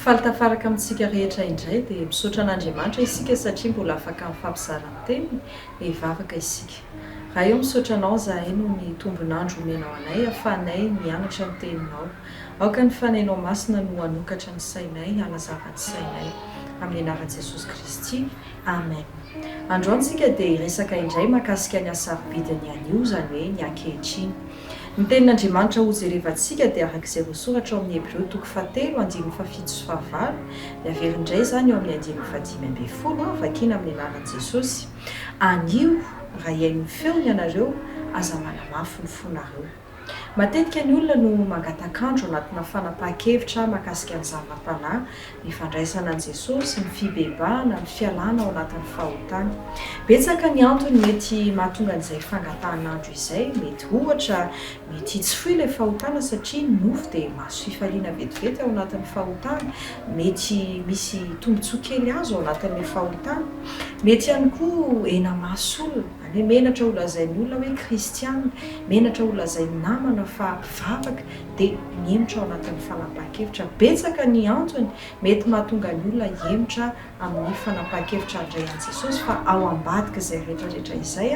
Faly tafaraka amintsika rehetra indray dia misaotra an'Andriamanitra isika satria mbola afaka mifampizara ny teniny dia hivavaka isika. Ray ô misaotra anao zahay noho ny tombon'andro omenao anay hafahanay mianatra ny teninao. Aoka ny fanainao masina no hanokatra ny sainay hanazava ny sainay. Amin'ny anaran'i Jesosy Kristy. Amen. Androany tsika dia hiresaka indray makasika ny hasarobidin'ny anio, izany hoe ny ankehitriny. Ny tenin'Andriamanitra hojerevantsika dia araka izay voasoratra ao amin'ny Hebreo toko fahatelo andininy fahafito sy fahavalo, dia averiny indray izany eo amin'ny andininy fahadimy ambin'ny folo, vakina amin'ny anaran'i Jesosy, Anio, raha hihaino ny feony ianareo, aza manamafy ny fonareo. Matetika ny olona no mangatak'andro anatina fanapahan-kevitra mahakasika ny zava-panahy, ny fandraisana an'i Jesosy, ny fibebahana, ny fialana ao anatin'ny fahotana. Betsaka ny antony mety mahatonga an'izay fangatahan'andro izay. Mety ohatra, mety hitsifoy ilay fahotana satria ny nofo dia mahazo fifaliana vetivety ao anatin'ny fahotana. Mety misy tombontsoa kely azo ao anatin'ilay fahotana. Mety ihany koa hena maso olona. Anie menatra ho lazain'ny olona hoe kristiana, menatra ho lazain'ny namana fa mpivavaka dia mihemotra ao anatin'ny fanapahan-kevitra. Betsaka ny antony mety mahatonga ny olona hihemotra amin'ny fanapahan-kevitra handray an'i Jesosy fa ao ambadik'izay rehetrarehetra izay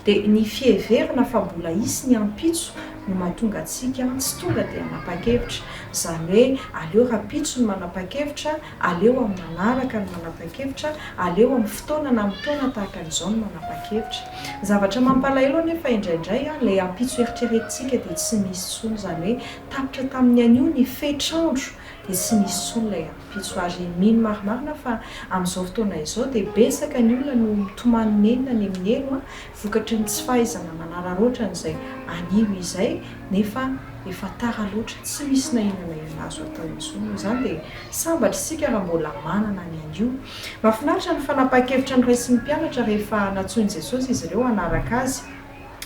dia ny fiheverana fa mbola hisy ny ampitso no mahatonga antsika tsy tonga dia hanapa-kevitra. Izany hoe aleo rahampitso ny manapa-kevitra Aleo amin'ny manaraka ny manapa-kevitra, aleo amin'ny fotoana na amin'ny taona tahaka an'izao ny manapa-kevitra. Ny zavatra mampalahelo anefa indraindray, ilay ampitso eritreretintsika dia tsy misy intsony, izany hoe tapitra tamin'ny anio ny fetr'andro dia tsy misy intsony ilay ampitso. Ary mino marimarina fa amin'izao fotoana izao dia betsaka ny olona no mitomany nenina ny amin'ny helo, vokatry ny tsy fahaizana manararaotra an'izay anio izay nefa efa tara loatra tsy misy na inona na inona azo atao intsony noho izany dia sambatra isika raha mbola manana ny anio mahafinaritra ny fanapahan-kevitra noraisin'ny mpianatra rehefa nantsoin'i Jesosy izy ireo hanaraka Azy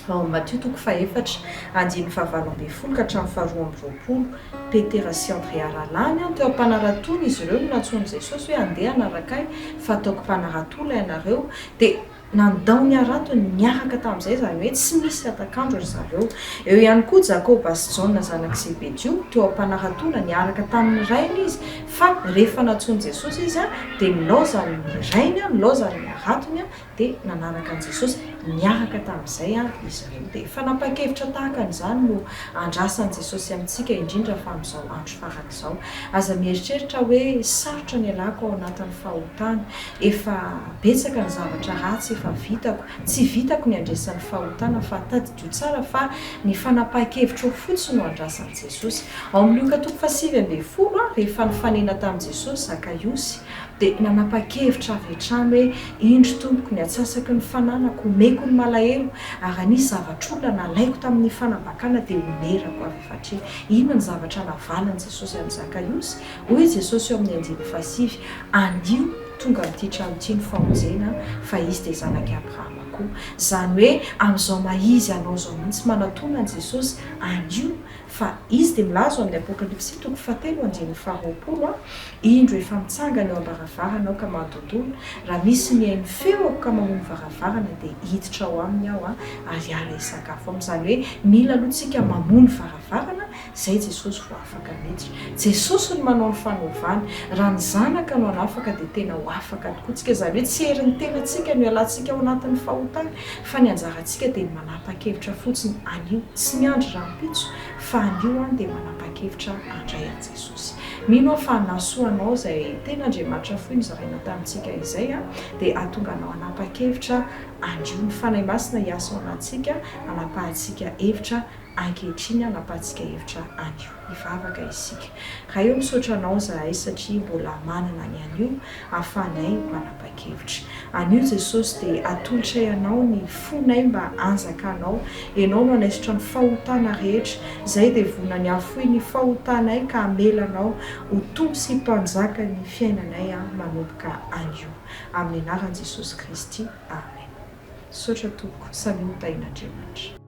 ao amin'ny Matio toko fahefatra andininy fahavalo ambin'ny folo ka hatramin'ny faharoa amby roapolo Petera sy Andrea rahalahiny an teo am-panaratoana izy ireo no nantsoin'i Jesosy hoe andeha hanaraka Ahy fa ataoko mpanarato lahy ianareo dia Nandao ny haratony niaraka tamin'izay, izany hoe tsy nisy hatak'andro ry zareo. Eo ihany koa Jakoba sy Jaona zanak'i Zebedio, toa mpanara-taona, niaraka tamin'ny rainy izy, fa rehefa nantsoin'i Jesosy izy, dia nilaozany ny rainy, nilaozany ny haratony, dia nanaraka an'i Jesosy niaraka tamin'izay izy ireo. Dia fanapahan-kevitra tahaka an'izany no andrasan'i Jesosy amintsika, indrindra fa amin'izao andro farany izao. tahaka izao. Aza mieritreritra hoe sarotra ny ialako ao anatin'ny fahotana. Efa betsaka ny zavatra ratsy efa vitako. Tsy vitako ny handresy ny fahotana fa tadidio tsara fa ny fanapahan-kevitrao fotsiny no andrasan'i Jesosy. Ao amin'ny Lioka toko fahasivy ambin'ny folo, rehefa nifanena tamin'i Jesosy Zakaiosy, dia nanapa-kevitra avy hatrany hoe, Indro Tompoko, ny atsasaky ny fananako, omeko ny malahelo, ary anisy zavatr'olona nalaiko tamin'ny fanambakana dia omerako avy eo. Satria inona ny zavatra navalin'i Jesosy an'i Zakaiosy? Hoy Jesosy eo amin'ny andininy fahasivy, Andio, tonga amin'ity trano ity ny famonjena, fa izy dia zanak'i Abrahama koa. Izany hoe amin'izao maha-izy anao izao mihitsy manatòna an'i Jesosy, Andio, fa izy dia milaza ao amin'ny Apokalypsy toko fahatelo andininy faharoapolo, Indro efa mitsangana eo am-baravarana aho ka manontolo, raha misy mihaino feo aho ka mamono varavarana dia hiditra ao aminy aho ary hiala hisakafo aminy. Izany hoe mila aloha tsika mamono varavarana izay Jesosy vao afaka miditra. Jesosy no manao ny fanovana. Raha ny Zanaka no hanafaka dia tena ho afaka tokoa tsika. Izany hoe tsy herin'ny tenantsika no hialantsika ao anatin'ny fahotana fa ny anjarantsika dia ny manapa-kevitra fotsiny anio tsy miandry rahampitso fa anio aho dia manapa-kevitra handray an'i Jesosy. Jesosy. Mino aho fa na soa anao izay tena Andriamanitra fohy nozaraina tamintsika izay dia hahatonga anao hanapa-kevitra andrio ny Fanahy Masina hiasa ao anatintsika hanapahantsika hevitra ankehitriny hanapahantsika hevitra anio. Hivavaka isika. Ray ô misaotra anao izahay satria mbola manana ny anio. ahafahanay manapa-kevitra. Anio Jesosy dia atolotray Anao ny fonay mba hanjakanao. Ianao no hanaisotra ny fahotana rehetra. Izay dia vonona ny hahafoy ny fahotanay ka hamela Anao ho Tompo sy Mpanjaka ny fiainanay manomboka anio. Amin'ny anaran'i Jesosy Kristy. Amen. Misaotra Tompoko. Samia ho tahin'Andriamanitra.